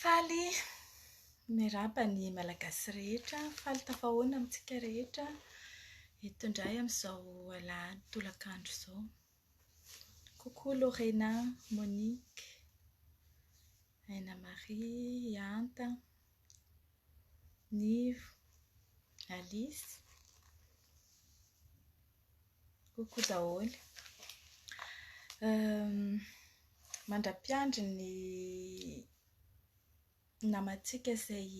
Faly miarahaba ny Malagasy rehetra. Faly tafahoana amintsika rehetra eto indray amin'izao alahady tolakandro izao. Coucou Lorena, Monique. Aina Marie, Ianta, Nivo, Alice, coucou daholo. Mandra-piandry ny namantsika izay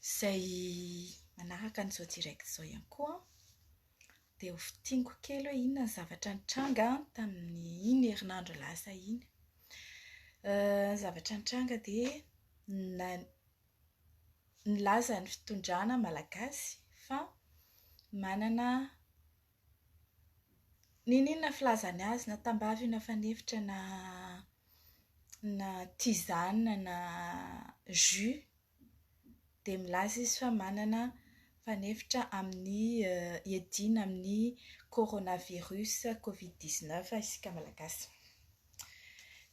izay manaraka an'izao direct izao ihany koa an. Dia ho fintiniko kely hoe inona ny zavatra nitranga tamin'iny herinandro lasa iny. Ny zavatra nitranga dia na- nilaza ny fitondrana malagasy fa manana n'inon'inona filazany azy na tambavy io na fanefitra na na tisane na jus dia milaza izy fa manana fanefitra amin'ny hiadiana amin'ny coronavirus covid dix neuf isika Malagasy.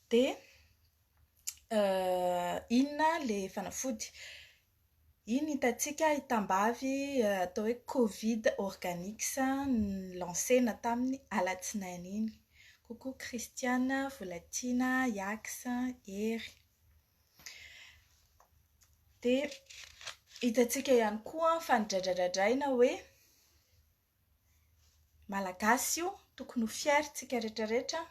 Dia inona ilay fanafody? Iny hitantsika hitambavy atao hoe Covid Organics no-lancena tamin'ny alatsinainy iny. Coucou Christiane, Volatiana, Yax, Hery. Dia hitantsika ihany koa fa nodradradradraina hoe Malagasy io, tokony ho fier isika rehetra rehetra.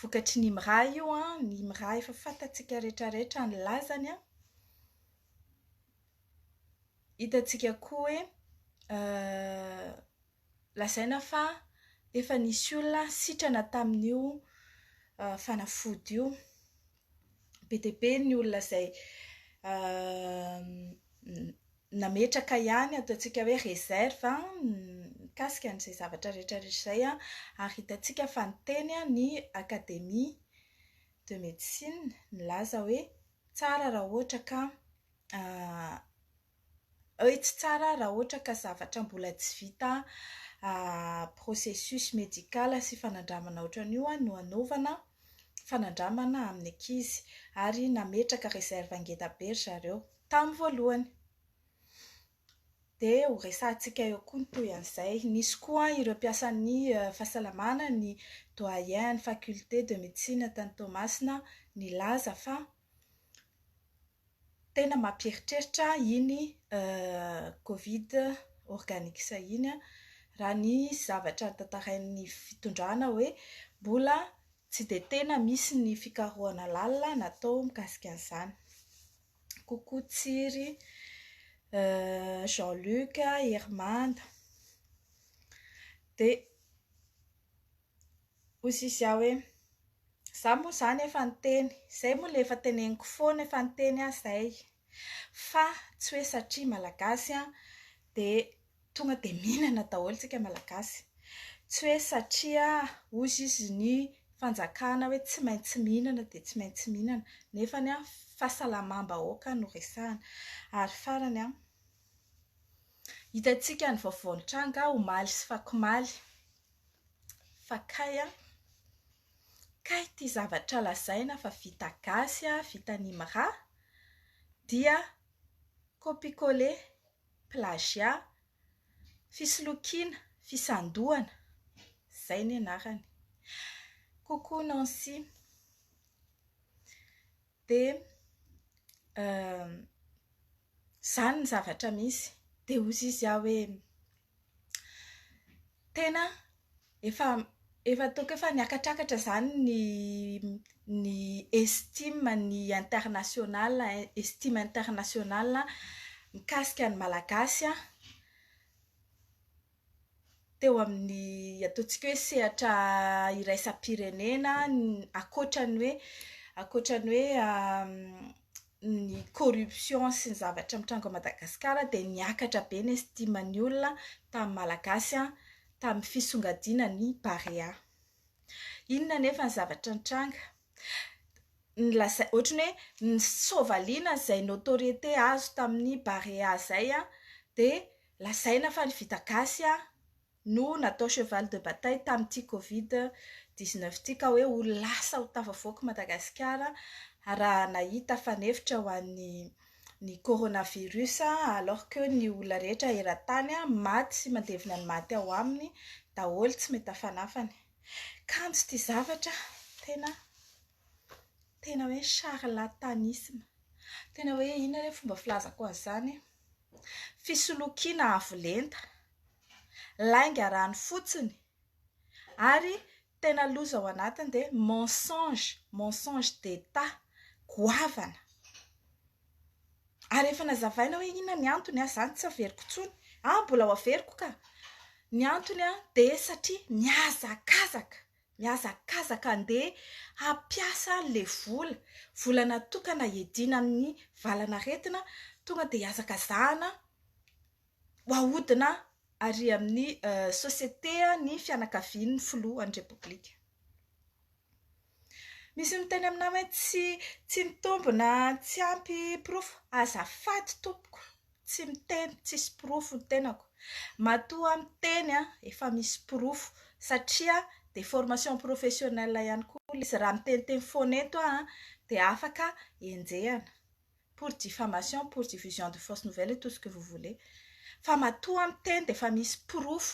Vokatry ny IMRA io, ny IMRA efa fantatsika rehetra rehetra ny lazany. Hitantsika koa hoe Lazaina fa efa nisy olona sitrana tamin'io fanafody io. Be dia be ny olona izay nametraka ihany ataontsika hoe réserve mikasika an'izay zavatra rehetrarehetra izay ary hitantsika fa niteny ny Académie de médecine nilaza hoe tsara raha ohatra ka Œits tsara raha ohatra ka zavatra mbola tsy vita processus médical sy fanandramana ohatran'io no hanaovana fanandramana amin'ny ankizy. Ary nametraka réserve ngeda be ry zareo tamin'ny voalohany. Dia ho resahantsika eo koa ny toy an'izay. Nisy koa ireo mpiasan'ny fahasalamana, ny doyen an'ny faculté de médecine tany Toamasina nilaza fa Tena mampieritreritra iny covid organic iny an, raha ny zavatra tantarain'ny fitondrana hoe mbola tsy dia tena misy ny fikarohana lalina natao mikasika an'izany. Coucou Tsiry, Jean Luc, Hermana. Dia. Hoy Sisia hoe, Izaho moa izany efa niteny, izay moa ilay efa teneniko foana, efa niteny aho izay. Fa tsy hoe satria Malagasy dia tonga dia mihinana daholo isika Malagasy. Tsy hoe satria hozy izy ny fanjakana hoe tsy maintsy mihinana dia tsy maintsy mihinana. Nefa fahasalamam-bahoaka no resahana. Ary farany, hitantsika ny vaovao nitranga omaly sy fakomaly. fa kay an! kay ity zavatra lazaina fa vita gasy, vita an'i Imra dia copie coller, plagiat, fisolokiana, fisandohana, izay ny anarany. Coucou Nancy, dia izany ny zavatra misy, dia hoy izy aho hoe. tena efa efa ataoko efa niakatrakatra izany ny ny estime ny international estime international mikasika ny malagasy aho teo amin'ny ataontsika hoe sehatra iraisam-pirenena ankoatra ny hoe ankoatra ny hoe ny corruption sy ny zavatra mitranga ao Madagasikara dia niakatra be ny estime ny olona tamin'ny Malagasy tamin'ny fisongadiana ny Barea. Inona anefa ny zavatra nitranga? Nilazai- Ohatran'ny hoe nisôvaliana izay notoriété azo tamin'ny Barea izay dia lazaina fa ny vita gasy no natao cheval de bataille tamin'ity covid dix-neuf ity ka hoe ho lasa ho tafavoaka i Madagasikara raha nahita fanefitra ho an'ny ny coronavirus alors que ny olona rehetra eran-tany maty sy mandevina ny maty ao aminy daholo tsy mety hafanafana e! Kanjo ity zavatra tena. tena hoe charlatanisme. Tena hoe inona re ny fomba filazako an'izany e? Fisolokiana avo lenta, lainga rano fotsiny ary tena loza ao anatiny dia mensonge, mensonge d'etat, goavana. Ary efa nazavaina hoe inona ny antony aza izany tsy averiko intsony. Mbola ho averiko ka! Ny antony dia satria mihazakazaka. Mihazakazaka andeha hampiasa le vola, vola natokana hiadiana amin'ny valan'aretina, tonga dia hazakazahana ho ahodina ary amin'ny société ny fianakavian'ny filohan'ny Repoblika. Misy miteny aminà hoe tsy tsy mitombina, tsy ampy porofo. Azafady tompoko. tsy miteny tsisy porofo ny tenako matoa miteny an efa misy porofo satria dia formation professionnelle ihany koa ilay izy raha miteniteny foana eto aho an dia afaka enjehina pour diffamation pour diffusion de fausse nouvelle et tout ce que vous voulez fa matoa miteny dia efa misy porofo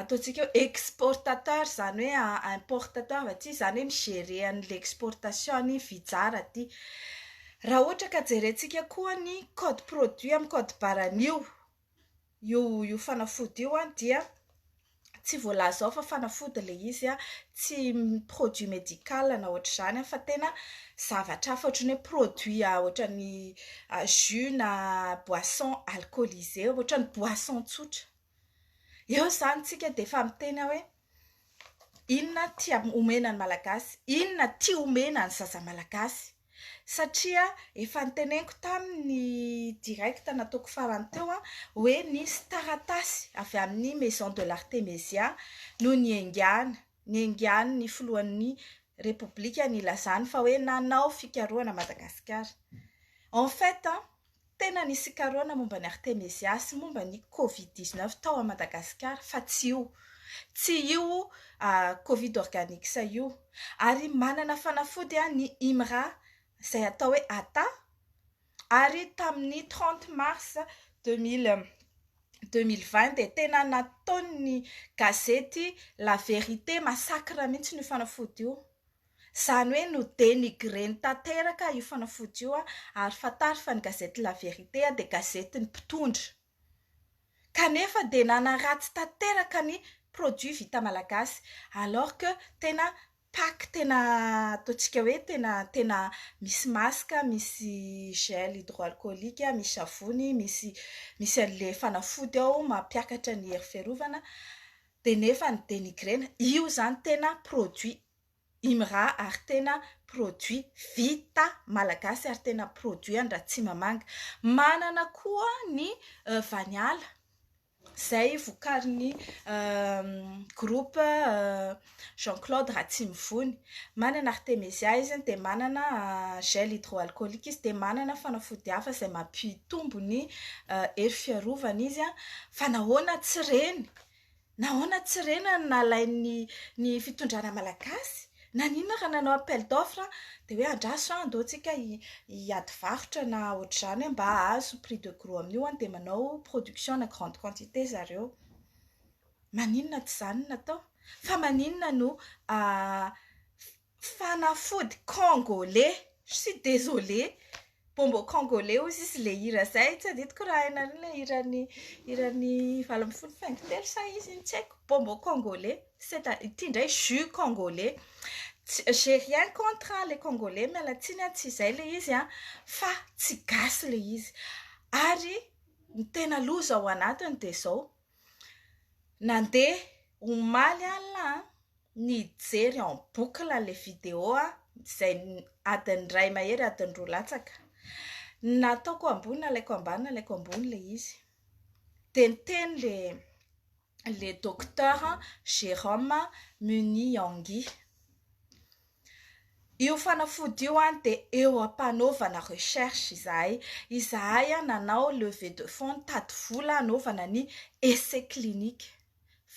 ataontsika hoe exportateur izany hoe importateur aty izany hoe mi-gerer an'ilay exportation ny fizara aty. Raha ohatra ka jerentsika koa ny code produit amin'ny code barre an'io io io fanafody io dia tsy voalaza ao fa fanafody ilay izy an, tsy produit medical na ohatr'izany fa tena zavatra hafa ohatran'ny hoe produit ohatran'ny jus na boisson alcoolisé ohatran'ny boisson tsotra. Eo izany tsika dia efa miteny aho hoe inona tia omena ny malagasy, inona tia omena ny zaza malagasy satria efa noteneniko tamin'ny direct nataoko farany teo aho hoe nisy taratasy avy amin'ny maison de l'artemesia no niengana, niengan'ny filohan'ny repoblika nilazany fa hoe nanao fikarohana Madagasikara. En fait, Tena nisy karôna momba an'i Artemezia sy momba ny covid dix-neuf tao Madagasikara fa tsy io. Tsy io covid organics io. Ary manana fanafody ny IMRA izay atao hoe Ata ary tamin'ny trente mars deux mille deux mille vingt dia tena nataon'ny gazety la verite massacre mihitsy io fanafody io. Izany hoe no denigrer-ny tanteraka io fanafody io ary fantaro fa ny gazety La Vérité dia gazetin'ny mpitondra. Kanefa dia nanaratsy tanteraka ny produit vita malagasy alors que tena pack tena ataontsika hoe tena tena misy masque, misy gel hydroalcoolique, misy savony, misy misy an'ilay fanafody ao mampiakatra ny hery fiarovana dia nefa ny denigrer-na. Io izany tena produit Imra ary tena produit vita malagasy ary tena produit an'Ratsimamanga. Manana koa ny Vaniala izay vokarin'ny groupe Jean Claude Ratsimivony. Manana Artemezia izy dia manana gel hydroalcoolique izy dia manana fanafody hafa izay mampitombo ny hery fiarovana izy. Fa nahoana tsy ireny? Nahoana tsy rena no nalain'ny ny fitondrana malagasy? Naninona raha nanao appel d'offre dia hoe andraso an, andao tsika hi- hiady varotra na ohatr'izany hoe mba ahazo prix de gros amin'io an, dia manao production ana grande quantité zareo. Maninona tsy izany no natao? Fa maninona no Fanafody congolais. Je suis désolé. Bonbon congolais hozy izy ilay hira zay. Tsy adidiko raha hainareo ilay hiran'ny hiran'ny valo ambin'ny folo faingo telo sa iza iny tsy haiko. Bonbon congolais. C'est à, ity indray jus congolais. Tsy, j'ai rien contre an, le congolais, miala tsiny an, tsy izay ilay izy an, fa tsy gasy ilay izy. Ary ny tena loza ao anatiny dia izao. Nandeha omaly alina aho nijery en boucle ilay vidéo izay adin'ny iray mahery adin'ny roa latsaka. Ny nataoko ambony nalaiko ambany nalaiko ambony ilay izy. Dia niteny ilay docteur Jérôme Muniaingui. Io fanafody io an dia eo ampanaovana recherche izahay, izahay an nanao levée de fonds nitady vola hanaovana ny essai clinique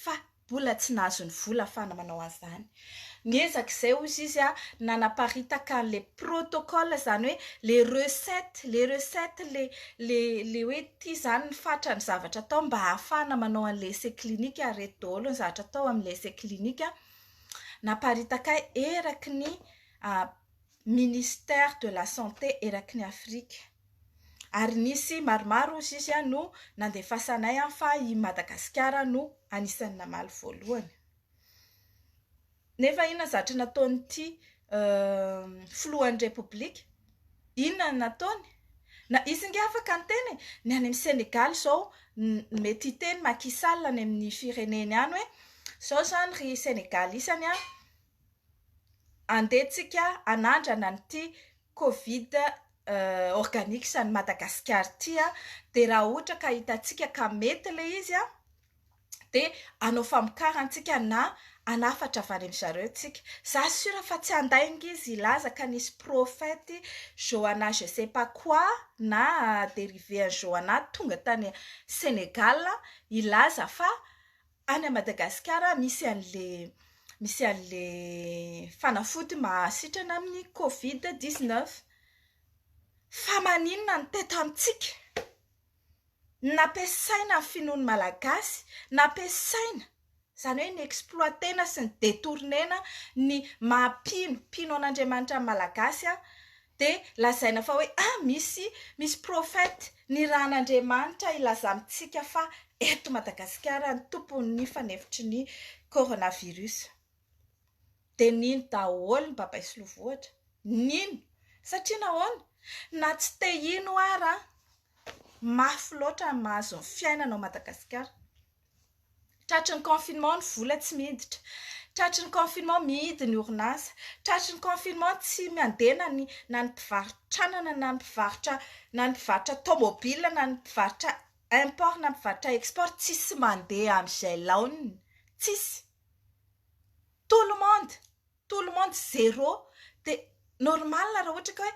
fa mbola tsy nahazo ny vola afahana manao an'izany, niezaka izay hozy izy an nanaparitaka an'le protocole izany hoe le recette, le recette le le le hoe ty izany ny fatran'ny zavatra atao mba ahafahana manao an'le essai clinique ary ireto daholo ny zavatra atao amin'ilay essai clinique an, naparitaka eraky ny ministère de la santé eraky ny Afrika ary nisy maromaro hoy izy no nandefasanay fa i Madagasikara no anisan'ny namaly voalohany nefa inona zatra nataon'ity filohan'ny repoblika Inona no nataony? Na izy nge afaka niteny e! Ny any amin'ny Senegaly izao mety hiteny Macky Sall any amin'ny fireneny any hoe izao izany ry Senegalysany a, andeha tsika hanandrana an'ity covid organics an'i Madagasikara ity a, dia raha ohatra ka hitantsika ka mety ilay izy a, dia hanao famokarana tsika na hanafatra avy any amin-dry zareo tsika. Za sure fa tsy handainga izy hilaza ka nisy prophète Johanna je sais pas quoi na dérivé an'i Johanna tonga tany Sénégal hilaza fa any à Madagasikara misy an'le misy an'le fanafody mahasitrana amin'ny covid 19. Fa maninona no te tamintsika? nampiasaina ny finoan'ny Malagasy, nampiasaina, izany hoe ni-exploiter-na sy ni-detourner-na ny maha mpino, mpino an'Andriamanitra ny Malagasy, dia lazaina fa hoe ah misy, misy prophète nirahan'Andriamanitra hilaza amintsika fa eto Madagasikara ny tompon'ny fanefitry ny coronavirus. Dia nino daholo ny babay sy lovohitra, nino, satria nahoana? na tsy te hino ara an! mafy loatra ny mahazo ny fiainana ao Madagasikara. Tratry ny confinement ny vola tsy miditra, tratry ny confinement mihidy ny orinasa, tratry ny confinement tsy mandeha na ny na ny mpivarotranana na ny mpivarotra na ny mpivarotra tomobilina na ny mpivarotra import na ny mpivarotra export tsisy mandeha amin'izay laoniny, tsisy. Tout le monde, tout le monde zéro. Dia normal raha ohatra ka hoe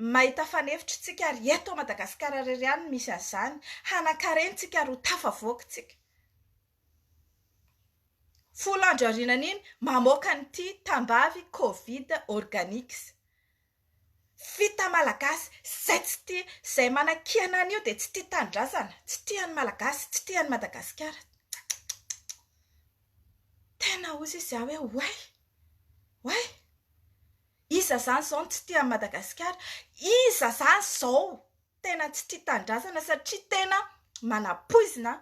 Mahita fanefitry tsika ary eto a Madagascar rery ihany no misy azany hanankareny tsika ary ho tafavoaka tsika. Folo andro aorinan iny mamoaka an ity tambavy covid organics. Fita malagasy zay tsy tia zay manakiana an io dia tsy tia tanindrazana tsy tia ny malagasy tsy tia ny Madagascar. Tena ozy izy aho hoe oay oay. Iza zany zao no tsy tia an'i Madagasikara? Iza zany izao tena tsy tia tanindrazana satria tena manapoizina an!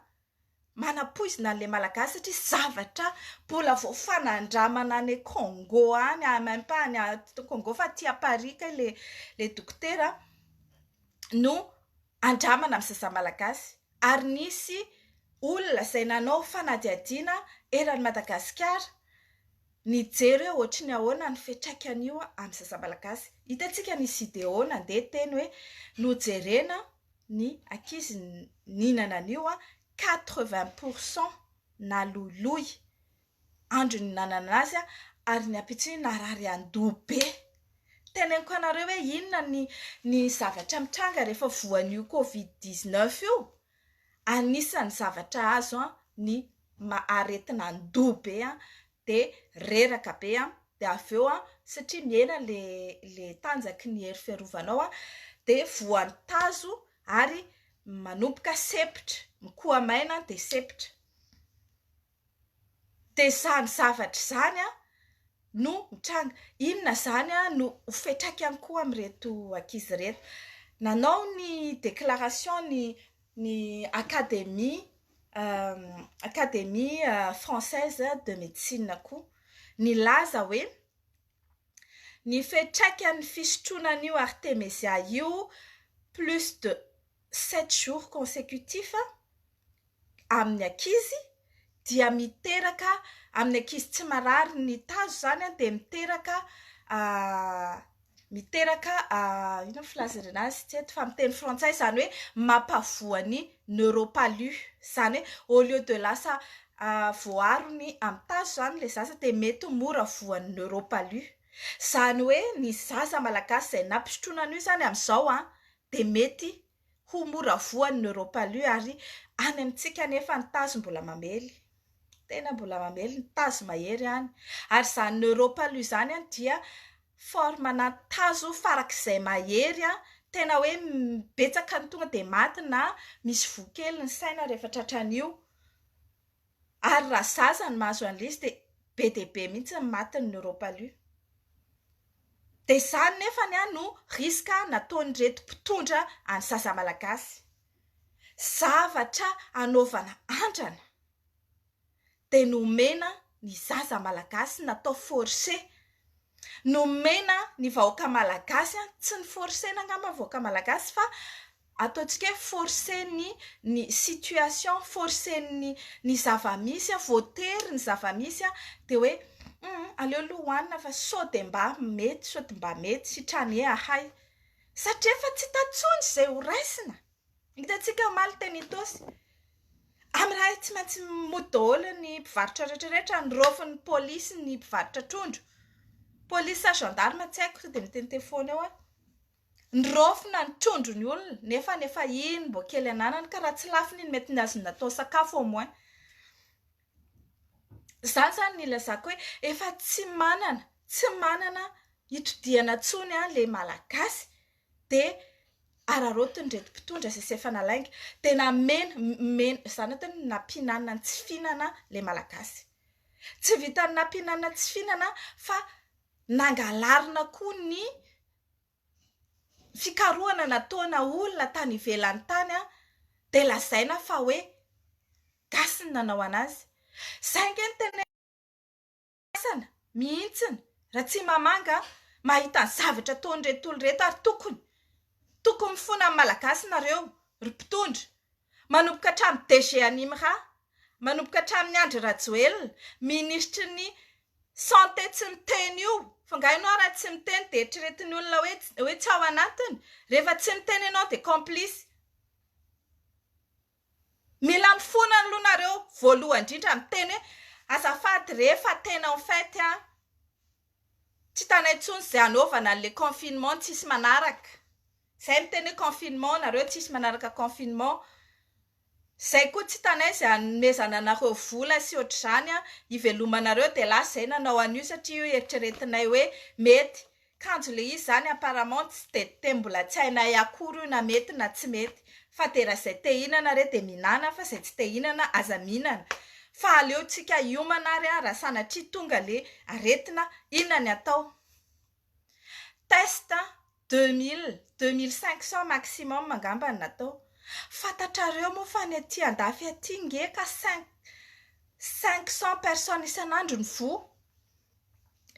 Manapoizina an'ilay Malagasy satria zavatra mbola vao fanandramana any Congo any, ah, même pas any Congo fa aty à Paris kay le le dokotera no andramana amin'ny zaza Malagasy ary nisy olona izay nanao fanadihadiana eran'i Madagasikara. Nijery hoe ohatry ny ahoana ny fiantraikan'io amin'ny zaza malagasy. Hitantsika ny Sideo nandeha teny hoe nojerena ny ankizy nihinana an'io, quatre vingt pour cent naloiloy andro nihinanana azy ary ny ampitsony narary an-doha be. Teneniko anareo hoe inona ny zavatra mitranga rehefa voan'io covid dix neuf io? Anisan'ny zavatra azo ny aretina andoha be dia reraka be dia avy eo satria mihena ilay tanjaky ny hery fiarovanao dia voan'ny tazo ary manomboka sempotra, mikoha maina dia sempotra. dessin zavatra izany no mitranga. Inona izany no ho fiantraikany koa amin'ireto ankizy ireto. Nanao ny déclaration ny ny Académie Académie française de médecine koa. Nilaza hoe ny fiantraikan'ny fisotroana an'io artemisia io plus de sept jours consecutif amin'ny ankizy dia miteraka amin'ny ankizy tsy marary ny tazo izany dia miteraka miteraka inona no filazana azy tsy eto fa amin'ny teny frantsay izany hoe mampavoa ny neuropalu izany hoe au lieu de lasa voaarony amin'ny tazo izany ilay zaza dia mety ho mora voan'ny neuropalu izany hoe ny zaza malagasy izay nampisotroina an'io izany amin'izao dia mety ho mora voan'ny neuropalu ary any amintsika anefa ny tazo mbola mamely, tena mbola mamely ny tazo mahery any ary izany neuropalu izany dia forme-na tazo farak'izay mahery tena hoe betsaka ny tonga dia maty na misy voa kely ny saina rehefa tratran'io. Ary raha zaza no mahazo an'ilay izy dia be dia be mihitsy ny matin'ny neuropalu. Dia izany nefany no risque nataon'ireto mpitondra an'ny zaza malagasy. Zavatra hanaovana andrana dia nomena ny zaza malagasy natao forcer. Nomena ny vahoaka malagasy, tsy ni-forcer-na angamba ny vahoaka malagasy fa ataontsika hoe force-ny ny situation, force-ny ny zava-misy, voatery ny zava-misy, dia hoe humm aleo aloha hohanina fa sao dia mba mety, sao dia mba mety, sitrany ee ahay. Satria efa tsy hita intsony izay ho raisina. Hitantsika omaly teny Itaosy, amin'ny iray tsy maintsy mody daholo ny mpivarotra rehetrarehetra, noraofin'ny polisy ny mpivarotra trondro. Polisy sa gendarme tsy haiko sao dia miteniteny foana eo aho. Niraofina ny trondro ny olona nefa nefa iny mbo kely ananany ka raha tsy lafiny iny mety ny azo natao sakafo au moins. Zany zany ny ilazako hoe efa tsy manana tsy manana itodihana tsony an le malagasy de araraotiny reto mpitondra zay sy efa nalainga de namena mena zany atao hoe nampihinanina ny tsy fihinana le malagasy tsy vitan'ny nampihinanina tsy fihinana fa nangalarina koa ny fikarohana nataona olona tany ivelany tany dia lazaina fa hoe gasy ny nanao anazy. Izay ange no tena ifandraisana mihitsy Ratsimamanga mahita ny zavatra ataon'ireto olona ireto ary tokony tokony mifona amin'ny malagasy nareo ry mpitondra manomboka hatramin'ny DG an'Imra manomboka hatramin'ny Andry Rajoelina minisitry ny Santé tsy miteny io fa nga enao raha tsy miteny de eritreretin'ny olona hoe hoe tsy ao anatiny rehefa tsy miteny enao de complice mila mifona aloha nareo voalohany indrindra miteny hoe azafady re fa tena en fait an tsy hitanay intsony izay anaovana anle confinement tsisy manaraka zay miteny hoe confinement nareo tsisy manaraka confinement Zay koa tsy tanay zay anomezana anareo vola sy otrzany an ivelomanareo de lasa zay nanao an'io satria io eritreretinay hoe mety kanjo le izy zany apparemment tsy de te mbola tsy hainay akory io na mety na tsy mety fa de ra zay te hinana re de minana fa zay tsy te hinana aza minana fa aleotsika hiomana ary an ra sanatria tonga le aretina inona ny atao. Test an! Deux mille, deux mille cinq cents maximum angamba no natao. Fantatrareo moa fa ny aty andafy aty nge ka cinq, cinq cents personnes isan'andro no voa.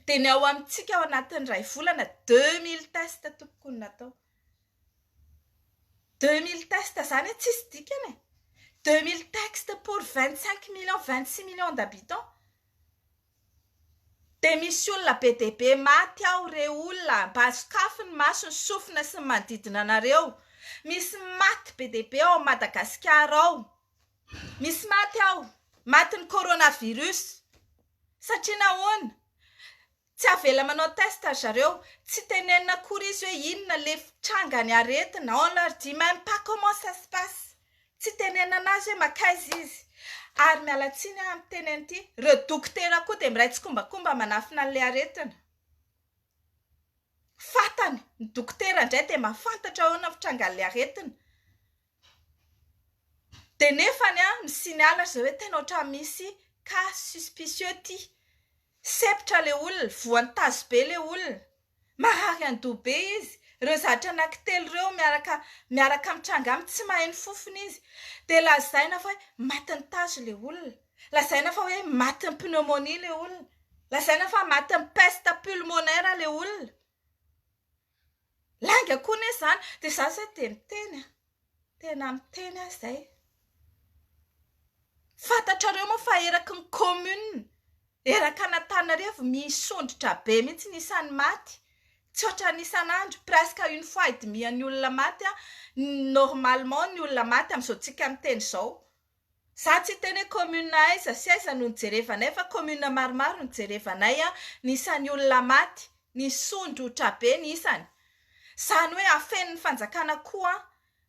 Dia ny ao amintsika ao anatin'ny iray volana deux mille test tompoko no natao. Deux mille test izany an! Tsisy dikany e! Deux mille text pour vingt cinq millions, vingt six millions d'habitants. Dia misy olona be dia be maty ao re olona mba sokafy ny maso ny sofina sy ny manodidina anareo misy maty be dia be ao Madagasikara ao misy maty ao maty ny corona virus satria nahoana tsy avela manao test ry zareo tsy tenenina akory izy hoe inona le tranga ny aretina on leur dit meme pas comment ça se passe Tsy tenenana azy hoe makaiza izy. Ary miala tsiny aho amin'ny teny an'ity, ireo dokotera koa dia miray tsikombakomba manafina an'ilay aretina. Fantany ny dokotera indray dia mahafantatra ahoana ny fitrangan'ilay aretina. Dia nefany an, mi-signale ry zareo hoe tena ohatran'ny misy cas suspicieux ity. Sepitra ilay olona, voan'ny tazobe ilay olona. Marary andoha be izy. Ireo zatra anankitelo ireo miaraka miaraka mitranga aminy, tsy maheno fofona izy. Dia lazaina fa hoe matin'ny tazo ilay olona. Lazaina fa hoe matin'ny pneumonie ilay olona. Lazaina fa matin'ny peste pulmonaire ilay olona. Lainga koa anie izany. Dia izaho izay dia miteny an! Tena miteny aho izay. Fantatrareo moa fa eraky ny commune erak' Anatananarivo misondrotra be mihitsy ny isan'ny maty, tsy ohatran'ny isan'andro, presque une fois et demie ny olona maty, normalement ny olona maty amin'izao tsika miteny izao. Za tsy hiteny hoe commune aiza sy aiza no nijerevanay fa commune maromaro no jerevanay an, ny isan'ny olona maty, ny sondry otrabe ny isany. Zany hoe afenin'ny fanjakana koa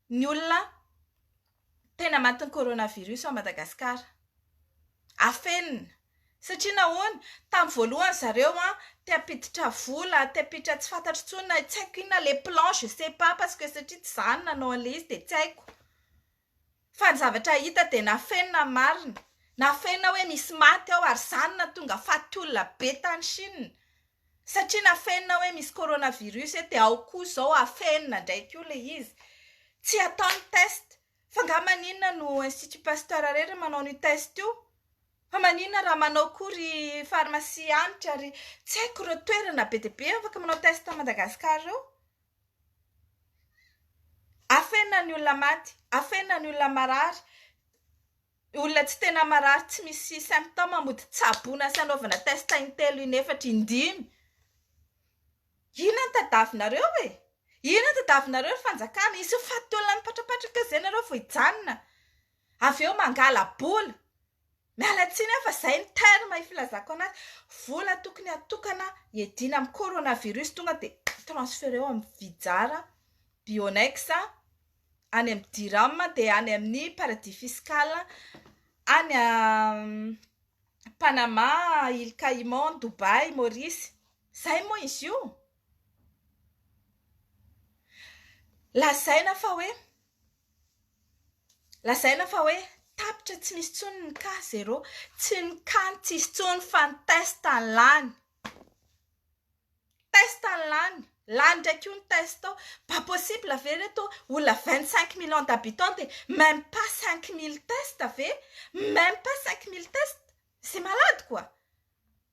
ny olona tena matin'ny coronavirus ao Madagasikara. Afenina. Satria nahoana? Tamin'ny voalohany zareo an, te hampiditra vola, te hampiditra tsy fantatro intsony na tsy haiko inona les plans, je sais pas parce que satria tsy za no nanao an'ilay izy dia tsy haiko. Fa ny zavatra hita dia nafenina ny marina. Nafenina hoe misy maty ao ary izany nahatonga faty olona be tany Chine. Satria nafenina hoe misy coronavirus eto dia ao koa izao hafenina indray koa ilay izy. Tsy hatao ny test. F'angaha maninona no Institut Pasteur irery no manao an'io test io? Fa maninona raha manao koa ry pharmacie Hanitra, ry. Tsy haiko ireo toerana be dia be afaka manao test an'i Madagasikara eo? Afenina ny olona maty, afenina ny olona marary, olona tsy tena marary tsy misy symptômes mody tsaboina sy anaovana test in-telo in-efatra in-dimy. Inona no tadiavinareo e? Inona no tadiavinareo ry fanjakana? Hisy faty olona mipatrapatraka eo izay ianareo vao hijanona? Avy eo mangala-bola. Miala tsiny aho fa zay ny terme ifilazako anazy, vola tokony atokana iadiana amin'ny coronavirus tonga dia transfereo amin'ny vijara, bionex, any amin'ny diram dia any amin'ny paradis fiscal, any panama, ile caiman, dubai, maurice. Zay moa izy io. Lazaina fa hoe. Lazaina fa hoe tapitra tsy misy intsony ny cas zero. Tsy ny cas no tsy hisy intsony fa ny test no lany. Test no lany. Lany indray koa ny test ao. Pas possible ve ry reto olona vingt cinq millions d'habitants dia meme pas cinq mille test ve? Meme pas cinq mille test? C'est malade quoi!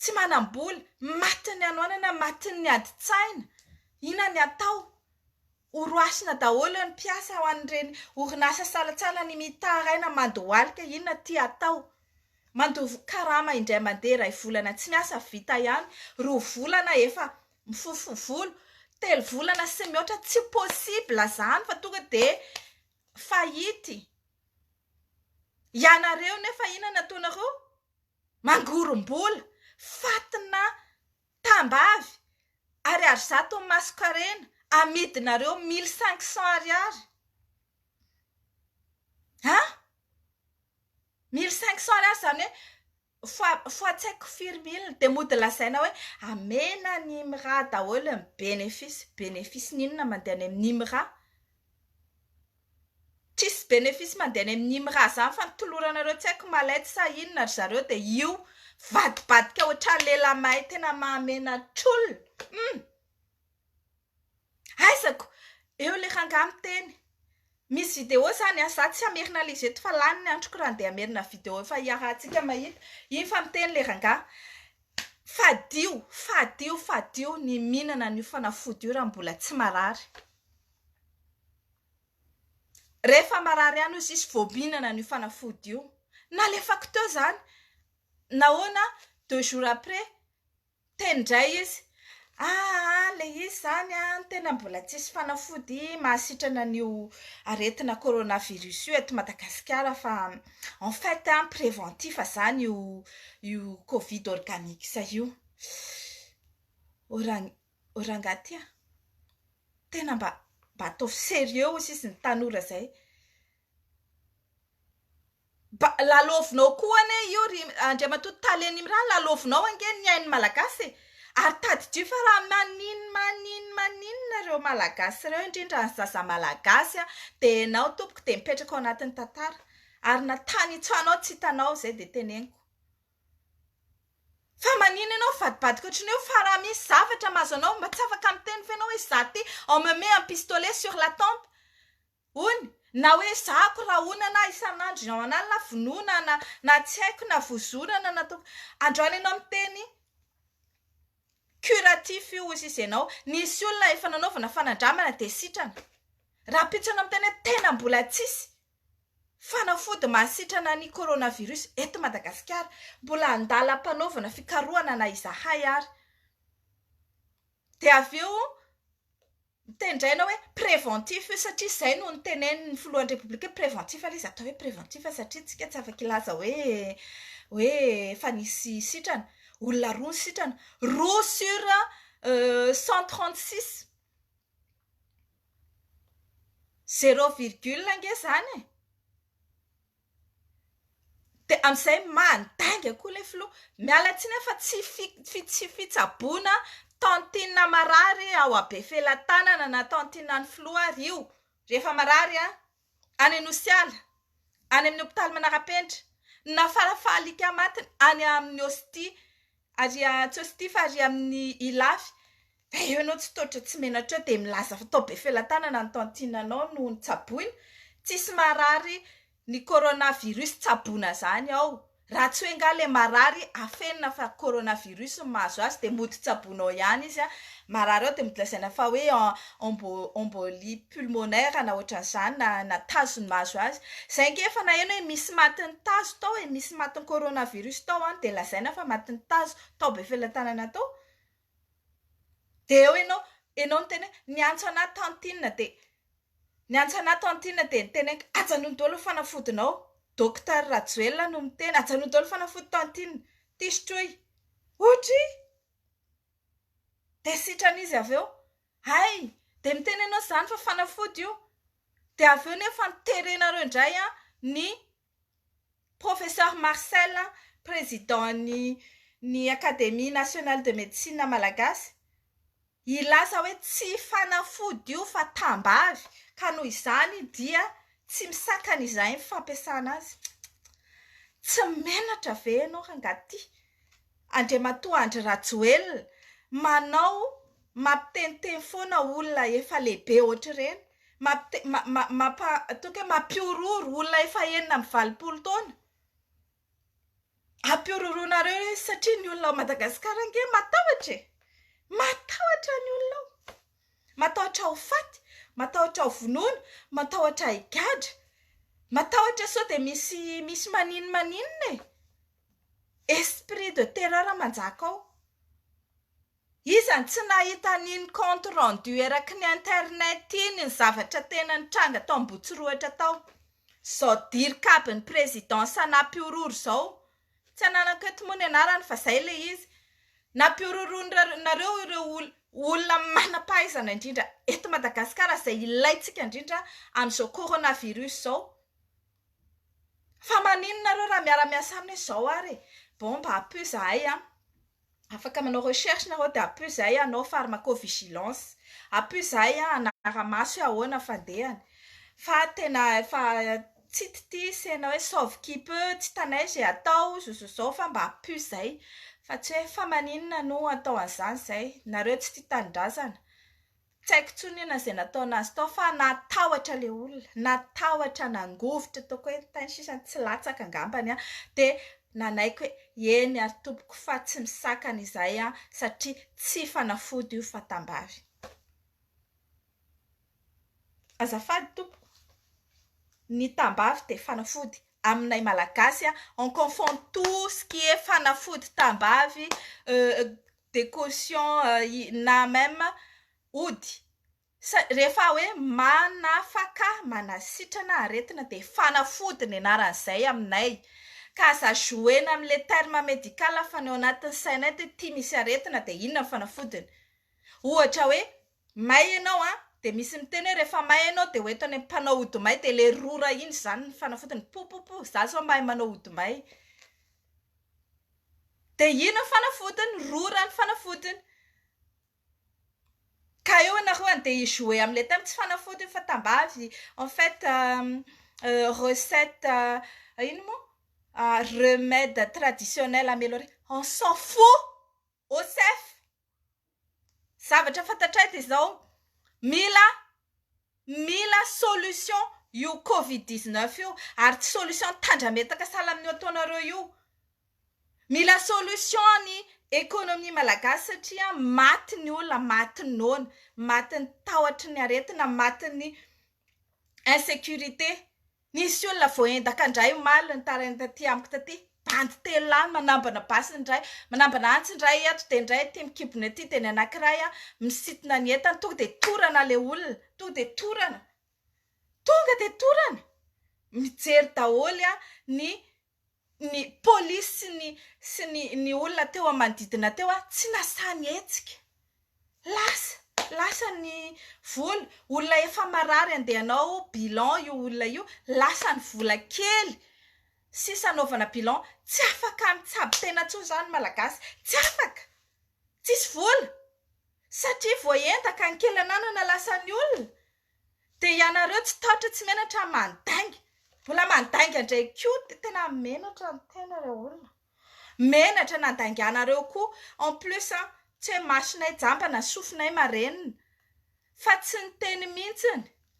tsy manam-bola, matin'ny hanoanana, matin'ny adin-tsaina, inona ny atao? Horohasina daholo ny mpiasa ao amin'ireny orinasa salantsala ny mitaraina mandohalika, inona ity hatao? Mandoa karama indray mandeha iray volana tsy miasa vita ihany, roa volana efa mifofoha volo, telo volana sy mihoatra tsy possible izany fa tonga dia faillite, ianareo nefa inona ny ataonareo? Mangorom-bola, fatina tambavy, ariary zato ny masonkarena, amidinareo mille cinq cents ariary. An! Mille cinq cents ariary izany hoe fa fa tsy haiko firy mille dia mody lazaina hoe amena an'i IMRA daholo ny benefisy. Benefisiny inona mandeha any amin'ny IMRA? Tsisy bénéfice mandeha any amin' im raha zany fa ny toloranareo tsy haiko malette sa inona ry zareo dia io vadibadika ohatran lehilahy mahay tena maha menatr olona hum aizako eo le rangahy miteny misy vidéo zany an za tsy hamerina le izy eto fa lany ny androko raha handeha hamerina vidéo efa iarahantsika mahita iny fa miteny le rangahy fadio fadio fadio ny mihinana an io fanafody io raha mbola tsy marary Rehefa marary ihany hoy sisy vao mihinana an'io fanafody io. Nalefako teo izany. Nahoana? Deux jours après, teny indray izy, ah ilay izy izany an, tena mbola tsisy fanafody mahasitrana an'io aretina coronavirus io eto Madagasikara fa en fait an, préventif izany io covid organics io. O rangahy ty a! Tena mba mba ataovy serieux ozy izy ny tanora zay. Ba lalaovinao koa anie io ry Andriamatoa Tale Nimra lalaovinao ange ny ain'ny Malagasy e! ary tadidio fa raha manin manin maninona ireo Malagasy ireo indrindra ny zaza Malagasy a! dia ianao tompoko dia mipetraka ao anatin'ny tantara ary na tany itsoanao tsy hitanao izay dia teneniko. Fa manina ianao mivadibadika ohatry ny hoe fa raha misy zavatra mahazo anao mba tsy afaka miteny ve ianao hoe za ty on me met un pistolet sur la tempe hono na hoe ezahako rahonana aho isan'andro ny ao an'alina vonoina na na tsy haiko na vozonana na ataoko androany ianao miteny curatif io hozy izy ianao nisy olona efa nanaovana fanandramana dia sitrana rahampitso ianao miteny hoe tena mbola tsisy Fanafody mahasitrana ny coronavirus eto Madagasikara, mbola andalam-panaovana fikarohana na izahay ary. Dia avy eo tendraina hoe préventif io satria izay no notenenin'ny filohan'ny Repoblika hoe préventif aloha izy atao hoe préventif satria isika tsy afaka hilaza hoe hoe efa nisy sitrana. Olona roa ny sitrana. Roa sur cent trente six. Zero virgule ange izany e! Dia amin'izay mandainga koa ilay filoha. Miala tsiny aho fa tsy fi- tsy fitsaboana tantine marary ao Befelatanana na tantine an'ny filoha ary io, rehefa marary an! any Anosiala, any amin'ny hopitaly Manarapenitra, na farafaha alika matiny any amin'ny Osty ary tsy Osty fa ary amin'ny Ilafy, dia eo ianao tsy totra tsy menatra eo dia milaza fa tao Befelatanana ny tantinanao no notsaboina, tsisy marary ny coronavirus tsaboina izany ao. Raha tsy hoe nga le marary afenina fa coronavirus no mahazo azy de mody tsaboina ao ihany izy a, marary ao de mody lazaina fa hoe embolie pulmonaire na ohatran'izany na na tazo no mahazo azy, zay nge efa naheno hoe misy matin'ny tazo tao e, misy matin'ny coronavirus tao an, de lazaina fa matin'ny tazo, tao Befelatanana tao. Dia eo ianao, ianao niteny hoe niantso anah tantine dia niantso anah tantine dia niteny hoe ajanony daholo ny fanafodinao, docteur Rajoelina no miteny, ajanony daholo ny fanafody tantine, ity sotroy, ohatra e! dia sitrana izy avy eo, hay dia miteny ianao izany fa fanafody io, dia avy eo nefa ny terenareo indray ny. Professeur Marcel, Président ny ny Académie Nationale de Médecine Malagasy, hilaza hoe tsy fanafody io fa tambavy ka noho izany dia tsy misakana izay ny fampiasana azy. Tsy menatra ve ianao rangahy ty? Andriamatoa Andry Rajoelina, manao, mampiteniteny foana olona efa lehibe ohatr'ireny, mampite, ma, ma, mampa, ataoko hoe mampihorohoro olona efa enina amby valopolo taona, ampihorohoroanareo ireo izy satria ny olona ao Madagasikara ange matahotra e! matahotra ny olona ao, matahotra ho faty, matahotra ho vonoina, matahotra higadra, matahotra sao dia misy, misy maninona maninona e! Esprit de terreur manjaka ao. Iza no tsy nahita an'iny compte rendu eraky ny internet iny ny zavatra tena nitranga tao Ambohitsirohitra tao. Izao dirikabin'ny présidence nampihorohoro izao. Tsy ananako eto moa ny anarany fa izay ilay izy. Nampihorohoronareo ireo olona manam-pahaizana indrindra eto Madagasikara izay ilaintsika indrindra amin'izao coronavirus izao. Fa maninona nareo raha miara miasa aminy hoe zao ary e! bon mba ampio zahay an! afaka manao recherche nareo dia ampio zahay hanao pharmaco vigilance ampio zahay hanara maso hoe ahoana ny fandehany fa tena efa tsy titia sena hoe sauve qui peut tsy hitanay izay atao zao zao zao fa mba ampio zay fa tsy hoe fa maninona no atao an'izany zay nareo tsy tia tanindrazana Tsy haiko intsony io na izay nataon'azy tao fa natahotra ilay olona, natahotra nangovitra toa koe ny tany sisa tsy latsaka angambany an! dia nanaiky hoe eny ary tompoko fa tsy misakana izahay an! satria tsy fanafody io fa tambavy. Azafady tompoko, ny tambavy dia fanafody aminay malagasy an! on confond tout ce qui est fanafody tambavy de caution na même ody sa rehefa hoe manafaka manasitrana aretina de fanafody ny anaran'izay aminay ka aza jouer-na amin'ilay terme médical fa ny ao anatin'ny sainay de ity misy aretina de inona ny fanafodiny ohatra hoe May ianao an! Dia misy miteny hoe rehefa may ianao dia ho eto any amin'ny mpanao hodi-may dia ilay rora iny izany ny fanafodiny popopo izaho izao mahay manao hodi-may dia iny ny fanafodiny rora ny fanafodiny ka eo ianareo andeha hi jouer amin'ilay thème tsy fanafody io fa tambavy en fait recette ino moa remède traditionnel ameliorer on s'en fou! OSEF, zavatra fantatray dia izao, mila mila solution io covid 19 io ary tsy solution tandrametaka sahala amin'io ataonareo io. Mila solution ny économie malagasy satria maty ny olona, maty ny noana, maty ny tahotry ny aretina, maty ny insécurité. Nisy olona voaendaka indray omaly nitaraina taty amiko taty, bandy telo lahy manambana basy ny iray, manambana antsy ny iray eto dia ny iray aty amin'ny kibony aty dia ny anankiray misitona ny entany tonga dia torana ilay olona, tonga dia torana, tonga dia torana, mijery daholo ny ny polisy sy ny sy ny ny olona teo amin'ny manodidina teo ary tsy nasaha nihetsika. Lasa! Lasa ny vola. Olona efa marary handeha hanao bilan io olona io. Lasa ny vola kely sisa hanaovana bilan. Tsy afaka mitsabo tena intsony izany ny Malagasy. Tsy afaka! Tsisy vola satria voaendaka ny kely ananana lasan'ny olona. Dia ianareo tsy tahotra tsy menatra mandainga. Mbola mandainga indray koa dia tena menatra ny tena ry olona. Menatra nandainganareo koa en plus an! Tsy hoe masonay jamba na sofinay marenina fa tsy niteny mihitsy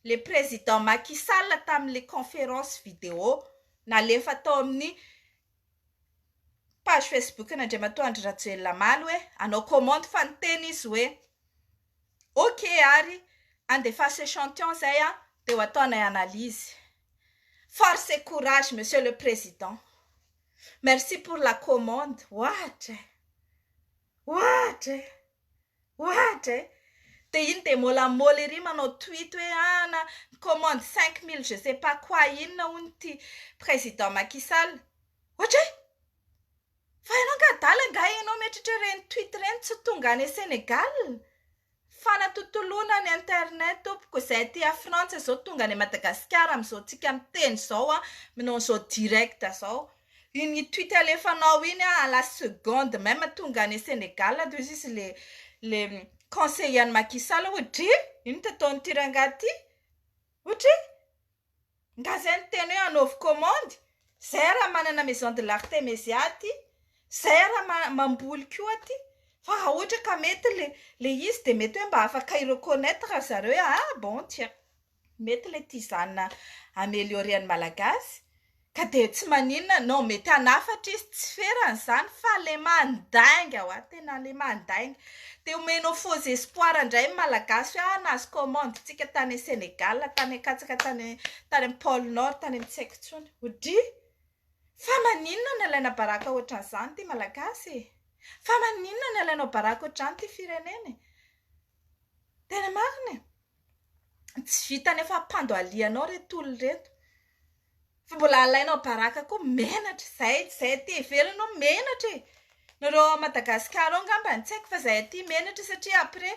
le président Macky Sall tamin'ilay conférence vidéo nalefa tao amin'ny page Facebook an'Andriamatoa Andry Rajoelina Maly hoe hanao commande fa niteny izy hoe. Ok ary andefaso echantion zay an de ho ataonay analyse. Force et courage monsieur le président. Merci pour la commande. Ohatra e! Ohatra e! Ohatra e! De iny de mola moly ery manao tweet hoe an an commande cinq mille je sais pas quoi inona hono ity président Macky Sall. Ohatra e! Fa ianao angaha adala angaha ianao mieritreritra ireny tweet ireny tsy tonga any Sénégal? Fanatotoloana ny internet tompoko izay aty a Frantsa izao tonga any Madagasikara amin'izao tsika miteny izao a manao an'izao direct izao iny tweet alefanao iny a à la seconde même tonga any Sénégal toy izy izy le le conseiller an'i Macky Sall ohatry inona ataon'ity rangahy ity ohatry Nga zay ny teny hoe anaovy komandy? Zay raha manana maison de l'artemesia aty, zay raha ma- mamboly koa aty, fa raha ohatra ka mety le le izy de mety hoe mba afaka i-reconnaitre ry zareo hoe ah bon tiens mety le tia izany na ameliorer ny malagasy Ka dia tsy maninona nao mety hanafatra izy tsy ferany izany fa le mandainga hoa tena le mandainga dia omenao faux espoir indray ny malagasy hoe ah nahazo commande tsika tany Senegal tany akatsaka tany tany am pole nord tany am tsy haiko intsony ho dry fa maninona no alaina baraka ohatran'izany ity malagasy e fa maninona no alainao baraka ohatran'izany ity firenena e tena marina e Tsy vita ny fampandoalianao ireto olona ireto fa mbola alainao baraka koa menatra izay tsy izay aty ivelany hono menatra e! nareo ao Madagasikara ao ngambany tsy haiko fa izay aty menatra satria après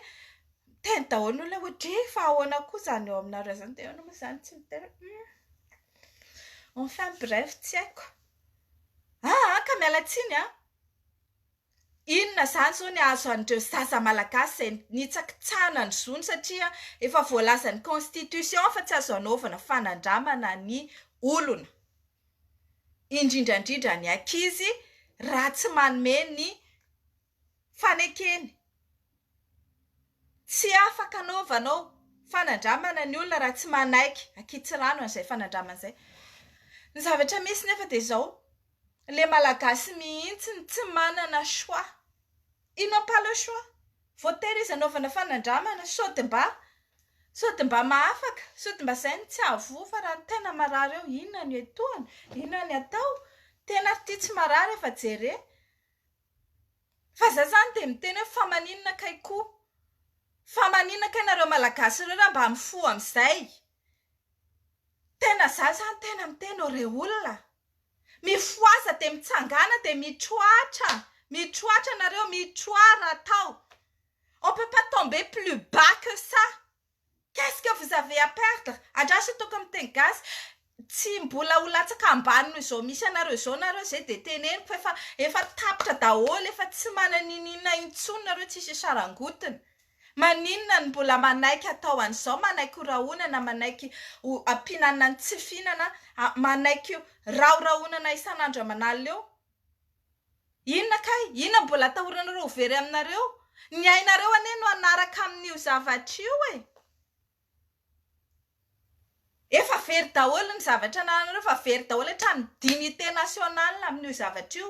miteny daholo ny olona hoe dre fa ahoana koa izany ao aminareo izany dia ahoana moa izany tsy miteny hum enfin bref tsy haiko ahh ka miala tsiny an! Inona izany izao ny ahazo an'ireo zaza malagasy izay nitsakitsahana ny zony satria efa voalazan'ny constitution fa tsy azo anaovana fanandramana ny olona, indrindra indrindra ny ankizy raha tsy manome ny fanekeny. Tsy afaka anaovanao fanandramana ny olona raha tsy manaiky ankitsirano an'izay fanandramana izay. Ny zavatra misy nefa dia izao. Le malagasy mihitsy no tsy manana choix. Ils n'ont pas le choix. Voatery izy hanaovana fanandramana sao dia mba sao dia mba mahafaka, sao dia mba izay no tsy hahavoa fa raha ny tena marary eo inona no hiantohana, inona no atao. Tena ary ity tsy marary efa jere. Fa izaho izany dia miteny hoe fa maninona kay koa. Fa maninona kay nareo malagasy ireo raha mba mifoha amin'izay. Tena izaho izany tena miteny ô ry olona. Mifohaza dia mitsangàna dia mitroatra, mitroatra nareo, mitroà raha atao. On peut pas tomber plus bas que ça. Qu'est ce que vous avez à perdre? Andraso toaka amin'ny teny gasy, tsy mbola ho latsaka ambany noho izao misy anareo izao nareo izay dia teneniko efa efa tapitra daholo, efa tsy manana ininona intsony nareo tsisy sarangotiny. Maninona no mbola manaiky atao an'izao, manaiky ho rahonana, manaiky ho ampiana na ny tsy fihinana, manaiky rahorahonana isan'andro aman'alina eo? Inona kay? Inona no mbola atahoranareo ho very aminareo? Ny ainareo anie no hanaraka amin'io zavatra io e! Efa very daholo ny zavatra anananareo efa very daholo hatrany dignité nationale amin'io zavatra io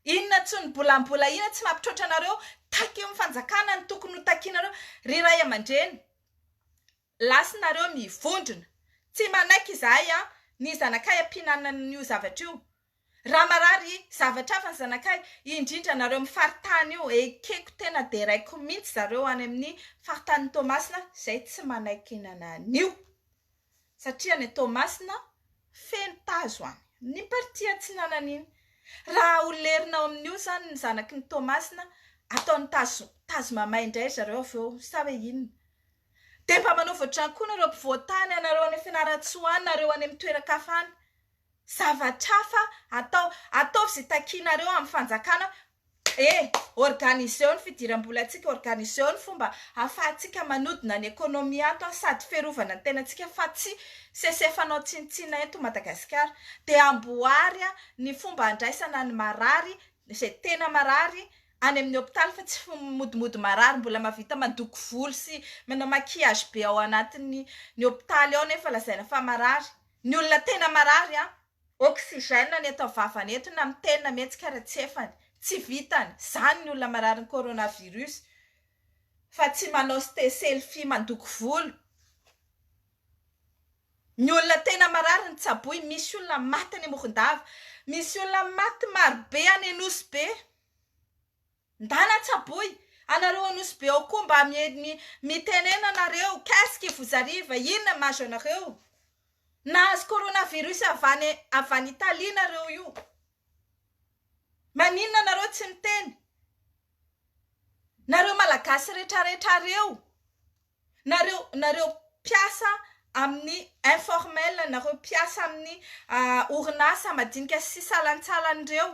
inona tsy ny bola mbola inona tsy mampitroatra anareo takio ny fanjakana ny tokony ho takinareo ry ray aman-dreny lasinareo mivondrona tsy manaiky izahay a ny zanakay ampihinanana an'io zavatra io Raha marary zavatra hafa ny zanakay, indrindra anareo amin'ny faritany io, ekeko tena deraiko mihitsy zareo any amin'ny faritanin'i Toamasina izay tsy manaiky hihinana an'io. Satria any Toamasina feno tazo any. Ny partie atsinanana iny. Raha ho lerina ao amin'io izany ny zanaky ny Toamasina, ataony tazo, tazo mamay indray ry zareo avy eo, sa hoe inona? Dia mba manova ohatr'izany koa nareo mpivoatany, anareo any Fianarantsoa any, nareo any amin'ny toeran-kafa any. Zavatrafa atao. Ataovy ze takianareo amin'ny fanjakana. E! Organiseo ny fidiram-bolantsika, organiseo ny fomba ahafahantsika manodina ny ekonomia ato an, sady fiarovana ny tenantsika fa tsy sese fanao tsinontsinona eto Madagasikara. Dia amboary an ny fomba handraisana ny marary, izay tena marary, any amin'ny hopitaly fa tsy fmodimody marary mbola mahavita mandoko volo sy manao maquillage be ao anatin'ny ny hopitaly ao nefa lazaina fa marary. Ny olona tena marary an! Oxygène ny eto vavany eto na mitena mihetsika ary tsefany. Tsy vitany. Zany ny olona marary ny coronavirus fa tsy manao ste selfie mandoko volo. Ny olona tena marary ny tsaboy. Misy olona maty any Morondava. Misy olona maty marobe any Anosibe. Ndana tsaboy anareo anosy be ao koa mba miely mitenena anareo qu'est-ce qui vous arrive inona mahazo anareo nahazo corona virus avy any avy any Italie nareo io maninona anareo tsy miteny nareo malagasy retraretra reo Nareo nareo mpiasa amin'ny informel, nareo mpiasa amin'ny orinasa madinika sy salantsalany reo,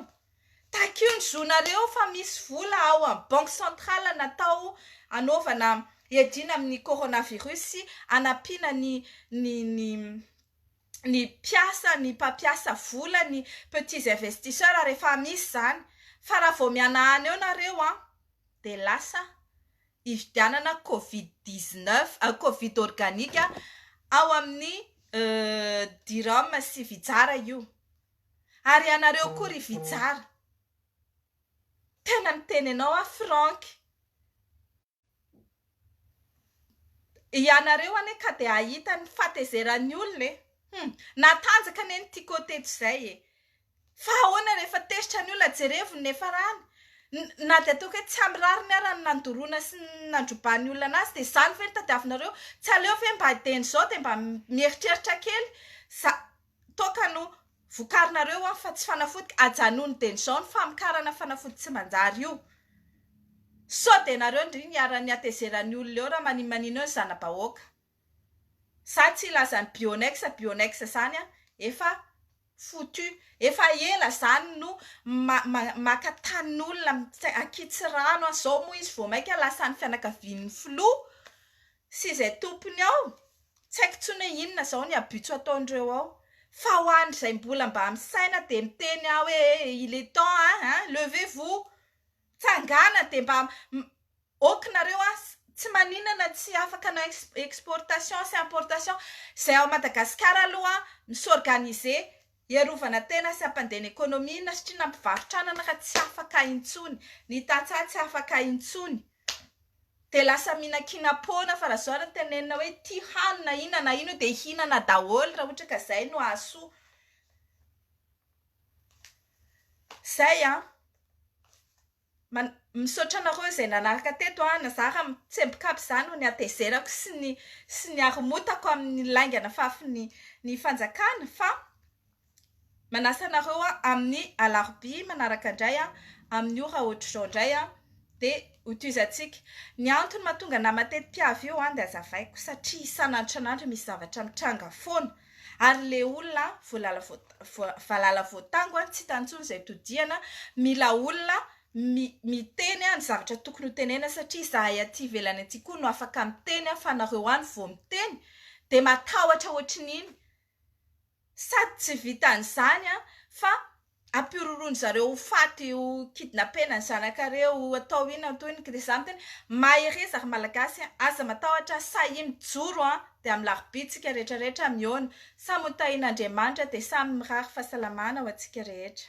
takio ny zonareo fa misy vola ao amin'ny banque centrale natao anaovana hiadiana amin'ny coronavirus sy hanampiana ny ny ny ny mpiasa, ny mpampiasa vola, ny petits investisseurs rehefa misy izany, fa raha vao mihanahana eo nareo an, dia lasa hividianana covid dix neuf, covid organique ao amin'ny Diram sy Vitsara io. Ary ianareo koa ry Vitsara, tena miteny anao aho Franck, ianareo anie ka dia hahita ny fahatezeran'ny olona e! Hum! Natanjaka anie ny Tiko teto izay e! Fa ahoana rehefa tezitra ny olona jerevo ny niafarany? Na dia ataoko hoe tsy ampy rariny ara ny nandoroana sy ny nandrobany ny olona anazy dia izany ve no tadiavinareo? Tsy aleo ve mba dieny izao dia mba mieritreritra kely za toaka no vokarinareo an fa tsy fanafody? Ajanony dieny izao ny famokarana fanafody tsy manjary io. Sao dia nareo ndry ny iharan'ny hatezeran'ny olona eo raha maninmanina eo ny zana-bahoaka. Za tsy hilaza ny bionex bionex zany an! Efa foutu! Efa ela zany no maka tanin'olona akitsy rano an! Zao moa izy vao maika lasa any fianakavian'ny filoha sy izay tompony ao! Tsy haiko intsony hoe inona zao ny abus ataon'ireo ao! Fa ho an'izay mbola mba misaina dia miteny aho hoe il est temps an! Levez vous! Tsangana dia mba Ok nareo a, tsy maninana tsy afaka na exportation sy importation zay ao Madagascar aloha mi-s'organiser hiarovana tena sy hampandena economie na satria na mpivarotra anana ka tsy afaka intsony, ny tantsaha tsy afaka intsony de lasa mihinankiana poana fa raha zao ary ny tenenina hoe ty hanina inona na inona io de hinana daholo raha ohatra ka zay no ahasoa zay an! Man, misaotra anareo izay nanaraka teto an, na za raha mitsemboka aby za no nihatezerako sy ny sy niharomotako amin'ny lainga nafafy ny ny fanjakana fa manasa anareo an amin'ny alarobia manaraka indray an amin'ny ora ohatr'izao indray an dia ho tohizantsika ny antony mahatonga nama tetim-piavy io an dia azavaiko satria isan'andro isan'andro misy zavatra mitranga foana Ary le olona valala voatango an tsy hitany intsony izay todihana mila olona miteny an ny zavatra tokony ho tenena satria izahay aty ivelany aty koa no afaka miteny an fa nareo any vao miteny dia matahotra ohatrin'iny sady tsy vitan'izany an fa ampiororon zareo ho faty io kidnapena ny zanakareo atao inona toy ny kda za miteny mahereza ry malagasy a aza matahotra sahia mijoro a de amin'ny larobitsika retraretra mihaona samy ho tahin'Andriamanitra de samy mirary fahasalamana ho antsika rehetra.